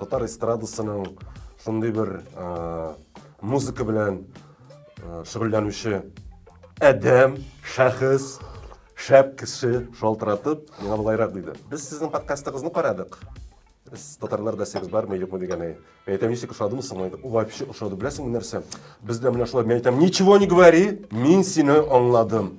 Татар эстрадасының шундый бер музыка белән шөгыльләнүче адәм, шәхес, шәп кеше шалтыратып, миңа болайрак диде. Без сезнең подкастыгызны карадык. Без татарларда сегез бар, мә юкмы дигәне. Мәйтәм ничек ошадымы соң? Вообще ошады. Беләсеңме нәрсә? Бездә менә шулай мәйтәм, ничего не говори, мин сине аңладым.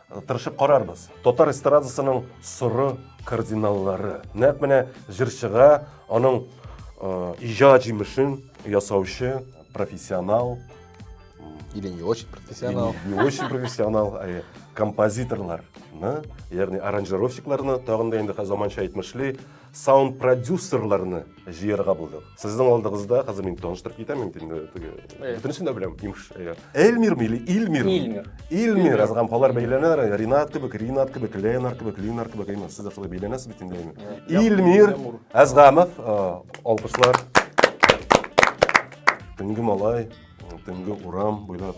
Тырышып карарбыз. Татар эстрадасының соры кардиналлары. Нәкъ менә җырчыга аның иҗат җимешен ясаучы профессионал или не очень профессионал. Не очень профессионал, ә композиторларны, ягъни аранжировщикларны тагын да инде заманча әйтмешли, саунд-продюсерларны җыярга булдык. Сезнең алдыгызда хәзер мин таныштырып китәм инде инде теге. Бөтенесен дә беләм, имеш. Эльмир мили, Илмир. Илмир. Илмир, азгам халар бәйләнәр, Ринат кебек, Ринат кебек, Ленар кебек, Ленар кебек, имеш. Сез дә шулай бәйләнәсез бит инде. Илмир Азгамов, алкышлар. Төнге малай, төнге урам буйлап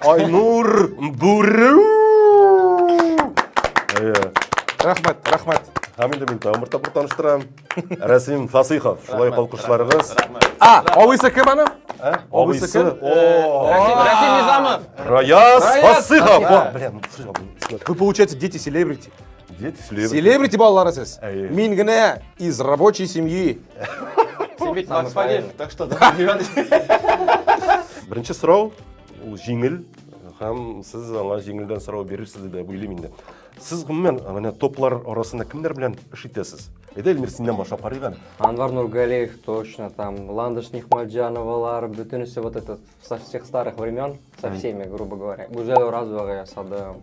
Айнур Бүрү! Рәхмәт, рәхмәт. Һәм инде мин тагын бер тапкыр таныштырам. Рәсим Фасыйхов. Шулай ук алкышларыгыз. А, абыйсы кем аны? Абыйсы кем? Рәсим Низамов. Раяз Фасыйхов. Блин, Вы получается дети селебрити. Дети селебрити. Селебрити балалары сез. Мин генә из рабочей семьи. Син бит Макс Фадеев, так что да. Беренче сорау ул җиңел һәм сез аңа җиңелдән сорау бирерсез дип уйлыйм инде сез гомумән менә топлар арасында кемнәр белән эш итәсез әйдә эльмир синнән башлап карыйк әле анвар нургалиев точно там ландыш нихматжановалар бөтенесе вот этот со всех старых времен со всеми грубо говоря гүзәл оразовага ясадым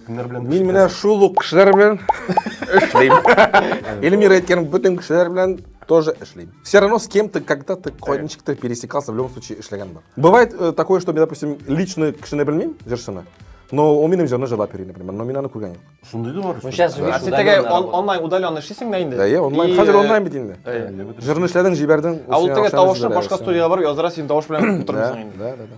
Кемнәр белән Мин менә шул ук кешеләр белән эшлим. Эльмира әйткән бөтен кешеләр белән тоже эшлим. Все равно с кем-то когда-то кайничектер пересекался, в любом случае эшләгән бар. Бывает э, такое, что, допустим, лично кешене белмим, җырчыны, но он минем җырны җырлап йөри, например, но мин аны күргән юк. Шундый да бар. Ну, сейчас Да. А видишь, син теге удаленно он- работа. онлайн удаленно эшлисең дә инде. Да, я онлайн, И, хәзер э, онлайн бит инде. э, Җырны эшләдең, җибәрдең. А ул теге тавышны башка студиягә барып язара, син тавыш белән утырмыйсың инде. Да, да, да.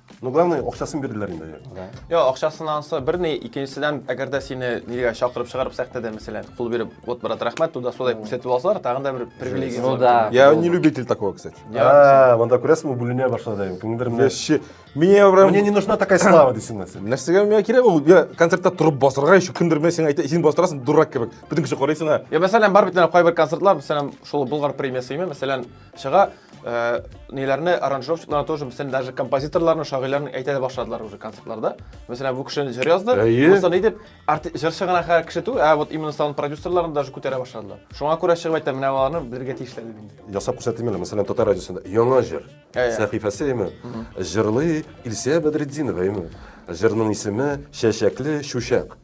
Ну, главное, акчасын бирделәр инде. Йо, акчасын ансы бер ни, икенчедән, әгәр дә сине нигә чакырып чыгарып сәхтәдә, мәсәлән, кул биреп, вот, брат, рәхмәт, туда суда күрсәтеп алсалар, тагын да бер привилегия. Ну да. Я не любитель такого, кстати. А, монда күрәсең, бүленә башлады. Күңелдермә. Вообще, мне прям... Мне не нужна такая слава, дисең нәрсә. Нәрсәгә миңа кирәк ул? Я концертта торып басырга, еще кемдер миңа син әйтә, син бастырасың, дурак кебек. Бүтән кеше карыйсына. Я мәсәлән, бар бит кайбер концертлар, мәсәлән, шул Болгар премиясе, мәсәлән, Чыга э, ниләрне аранжировщикларны тоже, мәсәлән, даже композиторларны, шагыйрьләрне әйтә дә башладылар уже концертларда. Мәсәлән, бу кешене җыр язды, Әйе. булса ни дип, арти- җырчы гына хә- кеше түгел, ә вот именно саунд продюсерларын даже күтәрә башладылар. Шуңа күрә чыгып әйтә, менә аларны белергә тиешләр дип инде. Ясап күрсәтим әле, мәсәлән, татар радиосында яңа җыр. Ә, ә. Сәхифәсе име? Җырлый Илсия Бәдретдинова име? Җырның исеме Чәчәкле чүчәк.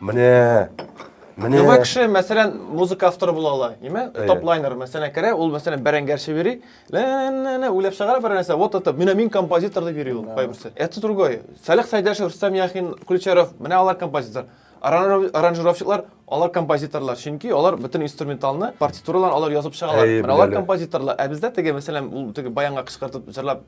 Менә Менә Яңа кеше, мәсәлән, музыка авторы була ала. Имә, топ-лайнер, мәсәлән, керә, ул, мәсәлән, бәрәңгәр чибери, лә-лә-лә, уйлап чыгара бер нәрсә, вот это, менә мин композитор дип йөри ул, кайберсе. Это другой. Салих Сайдашев, Рустам Яхин, Ключаров, менә алар композитор. Аранжировщиклар, алар композиторлар, чөнки алар бөтен инструменталны, партитураларын алар язып чыгалар. Менә алар композиторлар. Ә бездә теге, мәсәлән, ул теге баянга кычкыртып җырлап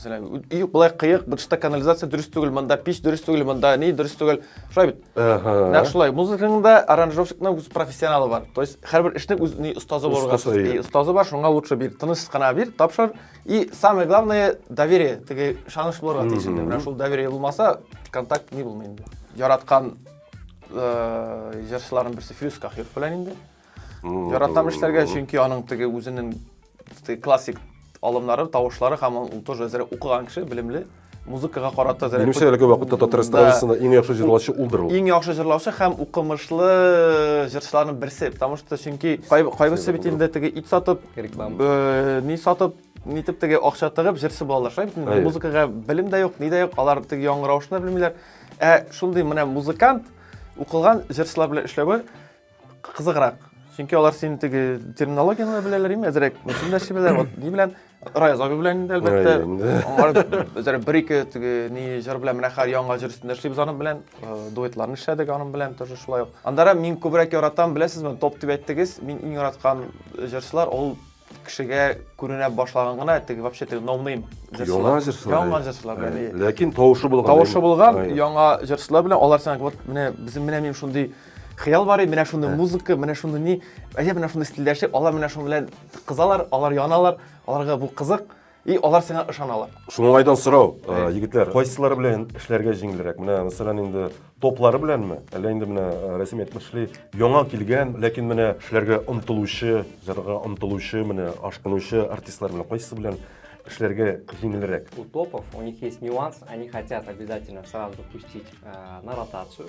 Мәсәлән, үй болай кыек, бытышта канализация дөрес түгел, монда пич дөрес түгел, монда ни дөрес түгел. Шулай бит. Нәкъ шулай. Музыканың да аранжировщикның үз профессионалы бар. То есть һәрбер эшнең үз ни остазы бар. И остазы бар, шуңа лучше бир. Тыныч кына бир, тапшыр. И самое главное доверие. Теге шаныш булырга тиеш инде. Менә шул доверие булмаса, контакт ни булмый инде. Яраткан җырчыларның берсе Фирүз Кахиров белән инде. Яратам эшләргә, чөнки аның теге үзенең классик алымнары, тавышлары һәм ул тоже әзер укыган кеше, белемле, музыкага карата әзер. Минемчә, әлеге вакытта татар эстрадасында иң яхшы җырлаучы улдыр ул. Иң яхшы җырлаучы һәм укымышлы җырчыларның берсе, потому что чөнки кайберсе бит инде теге ит сатып, э, ни сатып, нитеп теге акча тыгып җырчы булалар, шулай бит? Музыкага белем дә юк, ни дә юк, алар теге яңгыравышны белмиләр. Ә шундый менә музыкант укылган җырчылар белән эшләве кызыграк чөнки алар син теге терминологияны да беләләр име әзерәк мөслим дәши беләләр вот ни белән раяз абый белән инде әлбәттә алар бер ике теге ни җыр белән менә хәзер яңа җыр өстендә эшлибез аның белән дуэтларны эшләдек аның белән тоже шулай ук анда мин күбрәк яратам беләсезме топ дип әйттегез мин иң яраткан җырчылар ул кешегә күренә башлаган гына теге вообще теге ноунейм яңа җырчылар яңа җырчылар белән ләкин тавышы булган тавышы булган яңа җырчылар белән алар сәңа вот менә безнең менә мин шундый хыял бар менә шундый музыка менә шундый ни әйе менә шундый стильдәшек алар менә шуның белән кызалар алар яналар аларга бу кызык И алар сиңа ышаналар. Шуңайдан сорау, э, егетләр, кайсылары белән эшләргә җиңелрәк? Менә, мәсәлән, инде топлары беләнме? Әллә инде менә э, Рәсим әйтмешли, яңа килгән, ләкин менә эшләргә омтылучы, җырга омтылучы, менә ашкынучы артистлар белән кайсы белән эшләргә җиңелрәк? У топов, у них есть нюанс, они хотят обязательно сразу пустить э, на ротацию,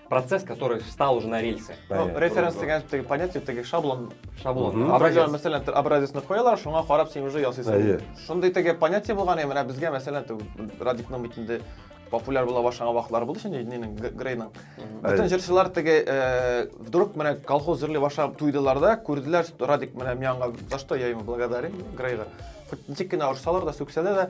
процесс, который встал уже на рельсы. Ну, референс дигән теге понятие, теге шаблон. Шаблон. Образец. Мәсәлән, образецны куялар, шуңа карап син уже ясыйсың. Шундый теге понятие булган, я менә безгә мәсәлән, радикның битендә популяр була башлаган вакытлар булды шундый нинең грейның бөтен җырчылар теге э, вдруг менә колхоз җырли башлап туйдылар да күрделәр радик менә миңа за что я ему благодарен грейга хоть ничек кенә орсалар да сүксәләр дә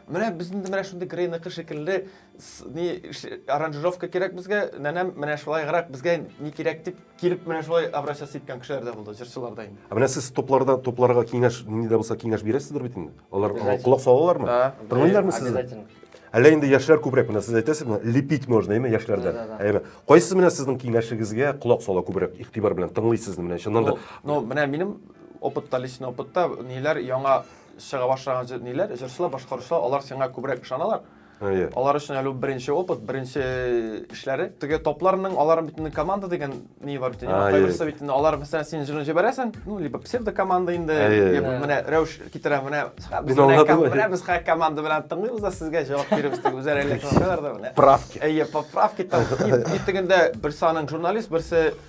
Менә без инде менә шундый грейныкы шикелле ни аранжировка кирәк безгә, нәнәм менә шулайгырак безгә ни кирәк дип килеп менә шулай обращаться иткән кешеләр дә булды, җырчылар да инде. Ә менә сез тупларда тупларга киңәш ни дә булса киңәш бирәсездер бит инде. Алар колак салалармы? Тыңлыйлармы сезне? Әллә инде яшьләр күбрәк менә сез әйтәсез менә лепить можно әйме яшьләрдән. Әйме. Кайсы менә сезнең киңәшегезгә колак сала күбрәк игътибар белән тыңлыйсыз менә чыннан да. Ну, менә минем опытта, личный опытта ниләр яңа чыга башлаган җырниләр, җырчылар, башкаручылар, алар сиңа күбрәк ышаналар. Әйе. Алар өчен әле беренче опыт, беренче эшләре. Теге топларның аларның бит инде команда дигән ни бар бит инде. Кайберсе бит инде алар мәсәлән син җырын җибәрәсең, ну либо псевдо команда инде, либо менә рәвеш китерә, менә без менә без хак команда белән тыңлыйбыз да сезгә җавап бирәбез дип үзләре әллә кемнәр да менә. Правки. Әйе, поправки там. И тегендә берсе аның журналист, берсе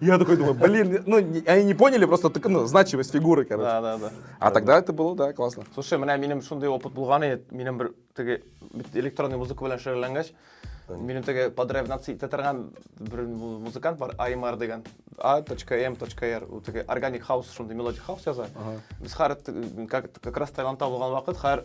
Я такой думаю, блин, ну, они не поняли просто так, ну, значимость фигуры, короче. Да, да, да. А тогда это было, да, классно. Слушай, менә минем шундый опыт булган иде, минем бер теге электронный музыка белән шөгыльләнгәч, минем теге подревнация итә торган бер музыкант бар, Аймар дигән. A.M.R. Ул теге органик хаус, шундый мелодик хаус яза. Без хәр как раз Таиландта булган вакыт, хәр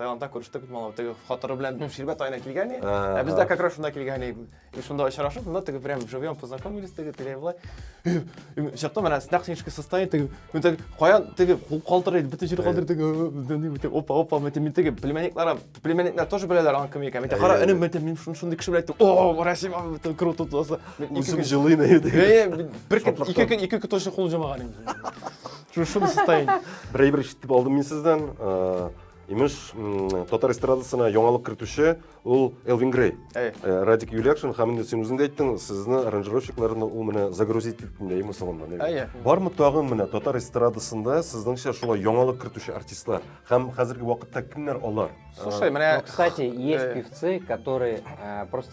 Таиландта күрештек бит малай, теге хатыры белән Ширбәт айына килгән иде. Ә без дә как раз шунда килгән идек. И шунда очрашып, монда теге прям живьем познакомились, теге тегеләй болай. Чыкты менә снак снежка состоит, теге мен теге каян теге кул калтырый, бөтен җир калтырый, теге опа опа, мен теге теге племянниклар, племянниклар тоже беләләр аның кем икәнен. Мен кара, энем, мен теге шундый кеше белән әйтте. О, Россия, бөтен круто туласы. Үзем җылыйм әйдә. Бер көн, ике көн, ике көн точно кул җамаган инде. Шушыны сытайын. Бер әйбер ишетеп алдым мин сездән. Э, имеш, татар эстрадасына яңалык кертүче ул Элвин Грей. Э, Радик Юлякшин һәм инде син үзең дә әйттең, сезне аранжировщикларны ул менә загрузить итте, әйме соңында. Әйе. Бармы тагын менә татар эстрадасында сезнеңчә шулай яңалык кертүче артистлар һәм хәзерге вакытта кемнәр алар? Слушай, э, менә, кстати, есть певцы, которые просто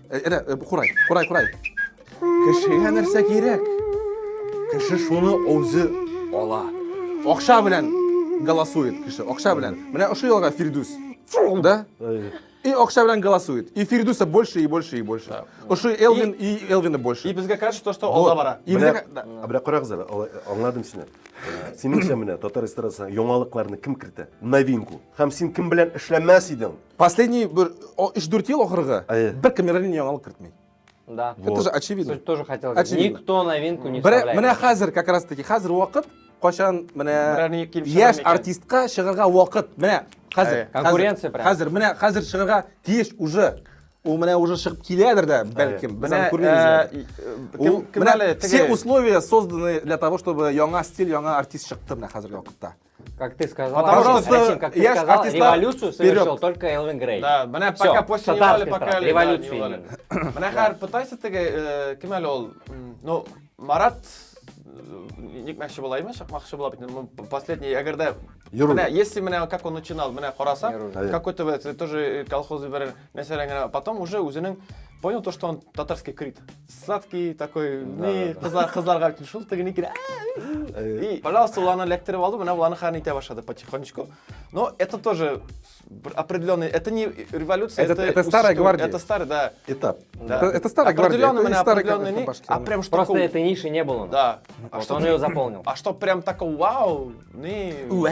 Әнә, э, курай, курай, курай. Кешегә нәрсә кирәк? Кеше шуны үзе ала. Акча белән голосует кеше. Акча белән. Менә ошо ялга Фирдүс. Да? И акча белән голосует. И Фирдүсә больше, и больше, и больше. Ошо Элвин, и Элвина больше. И безгә кажется, то, что алда бара. И безгә... Бля, карагыз әле, аңладым сине. Синеңчә менә татар эстрадасына яңалыкларны кем кертә? Новинку. Һәм син кем белән эшләмәс идең? Последний бер 3-4 ел ахыргы Әйе. бер камера ни яңалык кертми. Да. Вот. Это же очевидно. Суть тоже хотел сказать. Очевидно. Никто новинку не Бер, вставляет. менә хәзер как раз таки хәзер вакыт кайчан менә Берәр ни килеп чыгар яшь микән? артистка чыгарга вакыт менә хәзер Әйе. хәзер, Конкуренция прям. хәзер менә хәзер чыгарга тиеш уже ул менә уже чыгып киләдер дә бәлкем без аны күрмибез әле. э, Ул- кем, кем менә әле все теге условия созданы для того чтобы яңа стиль яңа артист чыкты менә хәзерге вакытта Как ты сказал, Потому что с- Расим, как ты я ж сказал, артиста- революцию совершил Вперед. только Элвин Грей. Да, менә Всё, пока после татарская Невали, пока страна, Элвин, да, революция Невали. именно. Менә хәзер пытайся теге, э, кем әле ул? М, Ну, Марат э, никмәкче була име, чыкмакчы була бит. Ну, Последний, әгәр дә Юру. менә если менә как он начинал, менә карасаң, Юру. Әйе. какой-то вот, э, тоже э, колхоз бер Мәсәлән генә, потом уже үзенең понял то, что он татарский крит. Сладкий такой, не, кызлар, кызларга бит шул тегене кирә. И, пожалуйста, ул аны эләктереп алды, менә ул аны хәрән итә башлады потихонечку. Но это тоже определенный, это не революция, это, это, старая гвардия. Это старый, да. Этап. Да. Это, это старая гвардия. Определенный, это определенный, не, а прям что Просто этой ниши не было. Да. А вот а что он ее заполнил. А что прям такого вау, не. Вау.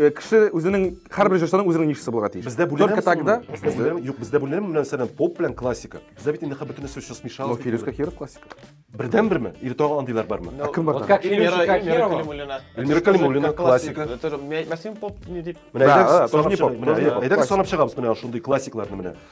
Э, кеше үзенең һәрбер җырчының үзенең нишасы булырга тиеш. Бездә бүләм Только тогда. Бездә юк, бездә бүләм белән сәлам поп белән классика. Бездә бит инде хәббә бөтенесе өчен смешал. Но Фирүз Кахиров классика. Бердән берме? Или тагы андыйлар бармы? Ә кем бар? Как Эльмира Калимуллина. Эльмира Калимуллина классика. Это мәсин поп не дип. Менә әйдәгез санап чыгабыз. Менә әйдәгез санап чыгабыз менә шундый классикларны менә.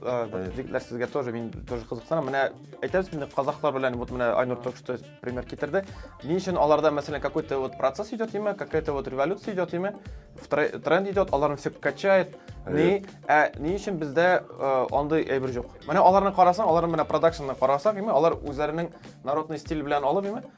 Җегетләр сезгә тоже мин тоже кызыксынам. Менә әйтәбез инде казахлар белән вот менә Айнур только что пример китерде. Ни өчен аларда мәсәлән какой-то вот процесс идет имя, какая-то вот революция идет имя, тренд идет, аларны все качает. Ни, ә ни өчен бездә андый әйбер юк. Менә аларны карасаң, аларны менә продакшнны карасаң, имя, алар үзләренең народный стиль белән алып имя,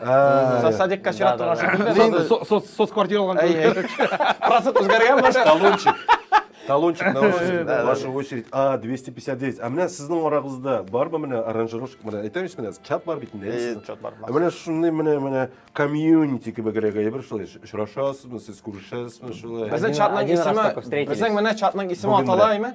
Ә, Садикка чират торган шикелле. Син инде со- со- соцквартира алган Әй, әй. кебек. Процент үзгәргән башта. Талончик. Талончик на очередь. Да, да. Ваша очередь. А, 259. А менә сезнең арагызда барбы менә аранжировщик менә әйтәм исмә чат бар бит инде. Әй, әйдисең. чат бар, бар. Ә Менә шундый менә менә комьюнити кебегрәк әйбер шулай очрашасызмы, сез күрешәсезме шулай? Безнең Один- чатның один раз исеме, только встретились. безнең менә чатның исеме Бүген атала менә. име?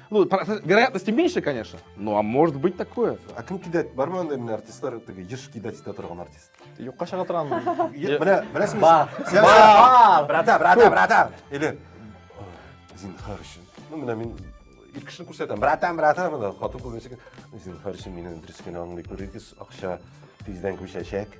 Ну, вероятности меньше, конечно, ну а может быть такое. А кім кидать? Бар ма мына артистлар теге еш кидать итә торган артист? Юкка чыга торган. Менә, беләсеңме? Бар. Бар, брата, брата, брата. Или зинхар өчен. Ну, менә мин ир кешене күрсәтәм. Братан, братан, менә хатын кыз ничек зинхар өчен мине дөрес кенә аңлый күрегез, акча тиздән күчәчәк.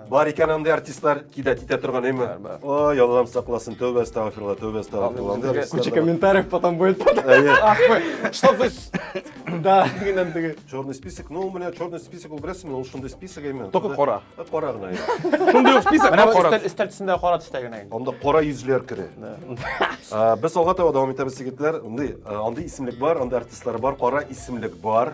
Бар икән андый артистлар кидәт итә торган әйме. Ой, Аллам сакласын, тәүбә астагфирулла, тәүбә астагфирулла. Андый артистлар Куча да бар. комментариев потом будет. Әйе. Ах вы, что вы... с- Да, дигәннән теге. Черный список, ну, у меня черный список, ул беләсеңме, ул шундый список әйме. Только Шунда- кара. Ә, Кара гына. әйе. Шундый ук список, Менә менә бу кара. өстәл өстәл төсендә кара төстә генә инде. Анда кара йөзләр кере. Ә, Без алга таба дәвам итәбез егетләр. Андый, ә, андый исемлек бар, андый артистлар бар, кара исемлек бар.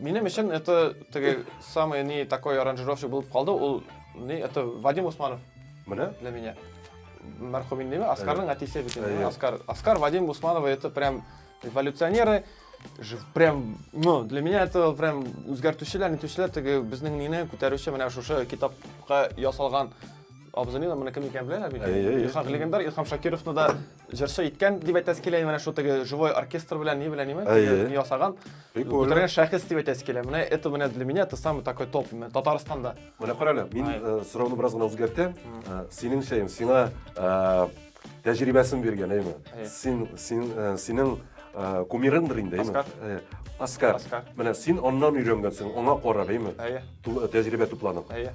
Минем өчен это теге самый не такой аранжировщик булып калды, ул не это Вадим Усманов. Менә? Для меня. Мәрхүм инде ме? Оскарның әтисе бит инде. Оскар, Оскар Вадим Усманов это прям эволюционеры. Прям, ну, для меня это прям үзгәртүчеләр, нитүчеләр теге безнең нине күтәрүче менә шушы китапка ясалган абзыйны да менә кем икәнен беләләр бит. Илһам легендар Илһам Шакировны да Җырчы иткән дип әйтәсе килә, менә шул теге живой оркестр белән ни белән ниме, теге ясаган. Бүтән шәхес дип әйтәсе килә. Менә это менә для меня это самый такой топ Татарстанда. Менә карале, мин э, сорауны бераз гына үзгәртәм. Э, синең шәем, сиңа э, тәҗрибәсен биргән, әйме? Син, син, синең кумирыңдыр инде, әйме? Оскар. Оскар. Менә син аннан өйрәнгәнсең, аңа карап, әйме? Әйе. Тәҗрибә тупланып. Әйе.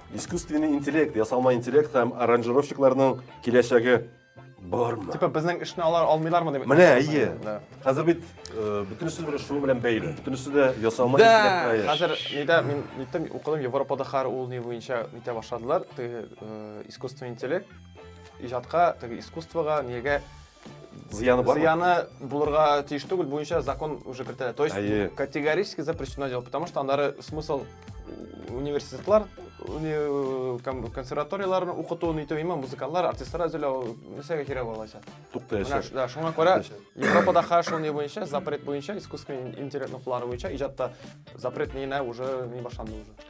Искусственный интеллект, ясалма интеллект һәм аранжировщикларның киләчәге бармы? Типа безнең эшне алар алмыйлармы дип. Менә, әйе. Хәзер бит э, бөтенесе бер шуның белән бәйле. Бөтенесе дә ясалма Да, интеллектка ия. хәзер нидә мин ниттем укыдым Европада хәр ул ни буенча нитә башладылар. Теге э, искусственный интеллект иҗатка, теге искусствога, нигә Зыяны бар. Зыяны булырга тиеш түгел буенча закон уже кертелә. То есть Әйе. категорически запрещено делать, потому что андары смысл университетлар, уни- кон- консерваторияләрне укыту, ниту, имам, музыкантлар, артистлар әзерләү, нәрсәгә кирәк булачак? Тукта Менә яшәр. ш- да, шуңа күрә Европада ха шул ни буенча, запрет буенча, искусственный интеллектны куллану буенча иҗатта запрет нигенә уже ни башланды уже.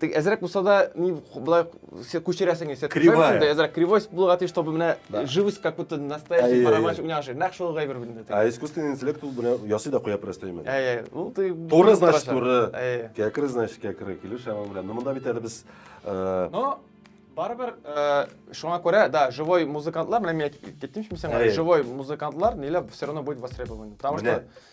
Тик әзрәк булса да, ни болай күчерәсең исә. Кривая. Әзрәк кривойс булырга тиеш, чтобы менә живость как будто настоящий барабанщик уйнаган шикелле. Нәкъ шул гайбер бит. Ә искусственный интеллект ул менә ясый да куя просто именно. Әйе. Ул ты Туры значит туры. Кәкре значит кәкре. Килеш аңа белән. Но монда бит әле без э, Но барыбер э, шуңа күрә, да, живой музыкантлар, менә мин әйтеп кеттем шул сиңа, живой музыкантлар ниләп все равно будет востребован. Потому что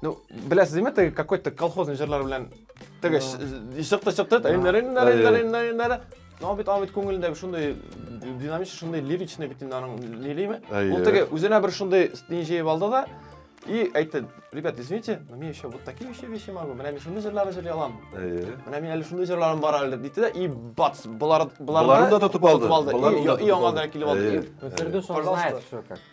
Ну, бля, сізме ты какой-то колхозный жырлар белән теге шықты шықты но бит бит күңелендә шундай динамич шундай лиричный бит инде аның лилиме ул теге үзенә бер шундай стиль җыеп алды да и әйтте ребят извините но мне еще вот такие еще вещи могу менә мин шундый җырлар җырый алам менә мин әле шундый җырларым бар әле дип да и бац болар боларны да тотып алды и аңа да килеп алды фирдүс он знает все как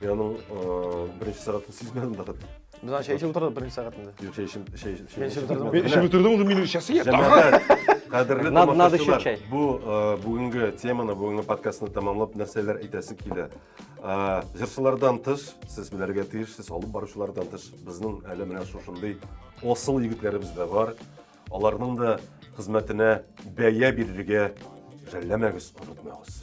Мин аның беренче сәгатен сизмәдем дә хәтта. Без аны чәйшеп утырдык беренче сәгатендә. Юк, чәй эчем, чәй эчем. Мин эчеп утырдым. Мин эчеп утырдым, уже минут сейчас я. Җәмәгать, кадерле тамашачылар. Бу бүгенге теманы, бүгенге подкастны тәмамлап нәрсәләр әйтәсе килә. Җырчылардан тыш, сез белергә тиешсез, алып баручылардан тыш, безнең әле менә шушындый осыл егетләребез дә бар. Аларның да хезмәтенә бәя бирергә жәлләмәгез, онытмагыз.